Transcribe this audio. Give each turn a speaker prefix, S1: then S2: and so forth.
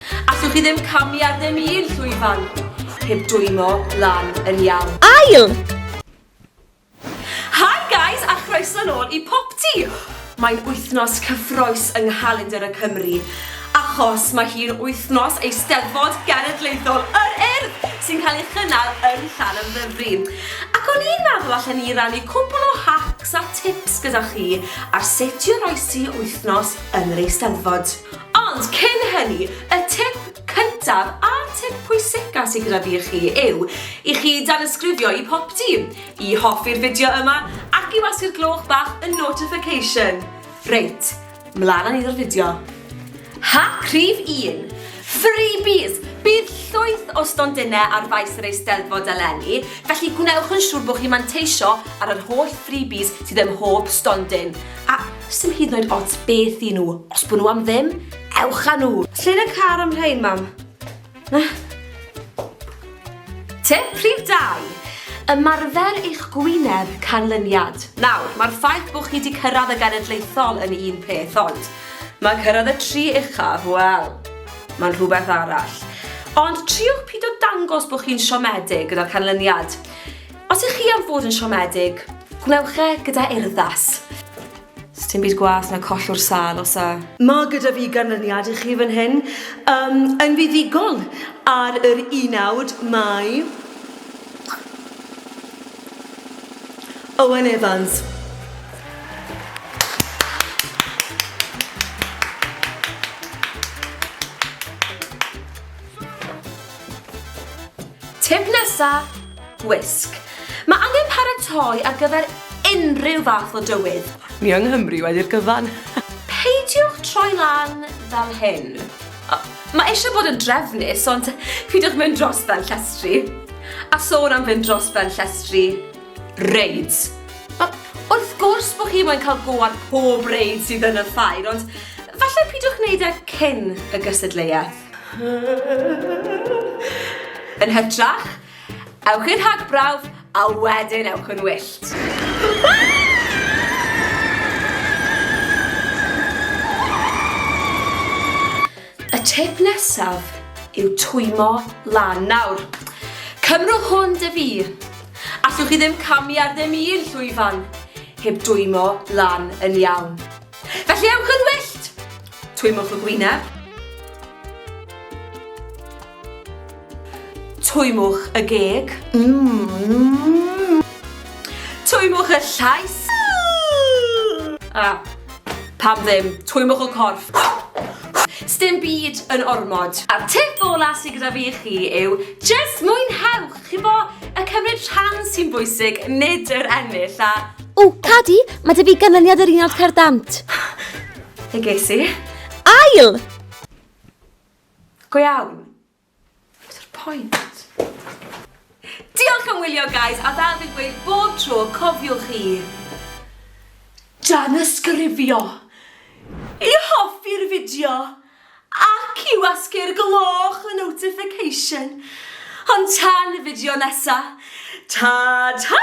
S1: Allwch chi ddim camu ar ddim un llwyfan heb dwymo lan yn iawn. Ail! Hi guys a chroeso nôl i Popty! Mae'n wythnos cyffroes yng nghalendr y Cymry achos mae hi'n wythnos Eisteddfod Genedlaethol yr Urdd sy'n cael ei chynnal yn Llanymddyfri. Ac o'n i'n meddwl allan ni rannu cwpl o hacks a tips gyda chi ar sut i oroesi wythnos yn yr Eisteddfod. Ond cyn hynny, y tip cyntaf a'r tip pwysica sydd gyda fi i chi yw i chi danysgrifio i Pop Team, i hoffi'r fideo yma ac i wasu'r gloch bach y notification. Reit, mlaen â ni o'r fideo. Hack rhif 1. Freebies! Bydd llwyth o stondinau ar faes yr Eisteddfod eleni, felly gwnewch yn siŵr bod chi'n manteisio ar yr holl freebies sydd ym mhob stondin. A Sdim hyd yn oed ots beth i nhw. Os bod nhw am ddim, ewch â nhw. Lle yn y car am rhein, mam? Na. Tip rhif dau. Ymarfer eich gwyneb canlyniad. Nawr, mae'r ffaith bod chi wedi cyrraedd y genedlaethol yn un peth, ond mae cyrraedd y tri uchaf, wel, mae'n rhywbeth arall. Ond triwch pido dangos bod chi'n siomedig gyda'r canlyniad. Os ych chi am fod yn siomedig, gwnewch e gyda urddas. Sdim byd gwaeth na collwr sâl, os a. Mae gyda fi ganlyniad i chi fan hyn. Yym, yn fuddugol, ar yr unawd mae Owen Evans. Tip nesa, gwisg. Mae angen paratoi ar gyfer unrhyw fath o dywydd. Ni yng Nghymru wedi'r gyfan. Peidiwch troi lan fel hyn. Mae eisiau bod yn drefnus, ond peidiwch mynd dros ben llestri. A sôn am fynd dros ben llestri, reids. Wrth gwrs bod chi moyn cael go ar pob reid sydd yn y ffair, ond falle peidiwch wneud e cyn y gystadleuaeth. Yn hytrach, ewch i'r rhagbrawf a wedyn ewch yn wyllt. Y tip nesaf yw twymo lan. Nawr, cymrwch hwn dy fi. Allwch chi ddim camu ar ddim un llwyfan heb dwymo lan yn iawn. Felly ewch yn wyllt! Twymwch y gwyneb. Twymwch y geg. Mm. Twymwch y llais. A, pam ddim, twymwch y corff. Stim byd yn ormod. A tip ola sydd gyda fi i chi yw, just mwynhewch, chi bo, y cymryd rhan sy'n bwysig, nid yr ennill, a... O, Cadi,
S2: mae dy fi ganlyniad yr unod cerdant. Fe
S1: ges i. Ail! Go iawn. Beth yw'r pwynt? Diolch am wylio, guys, a fel fi'n gweud bob tro, cofiwch i... Danysgrifio! I hoffi'r fideo! Ac i wasgu'r gloch y notification! Ond tan y fideo nesa, ta-ta!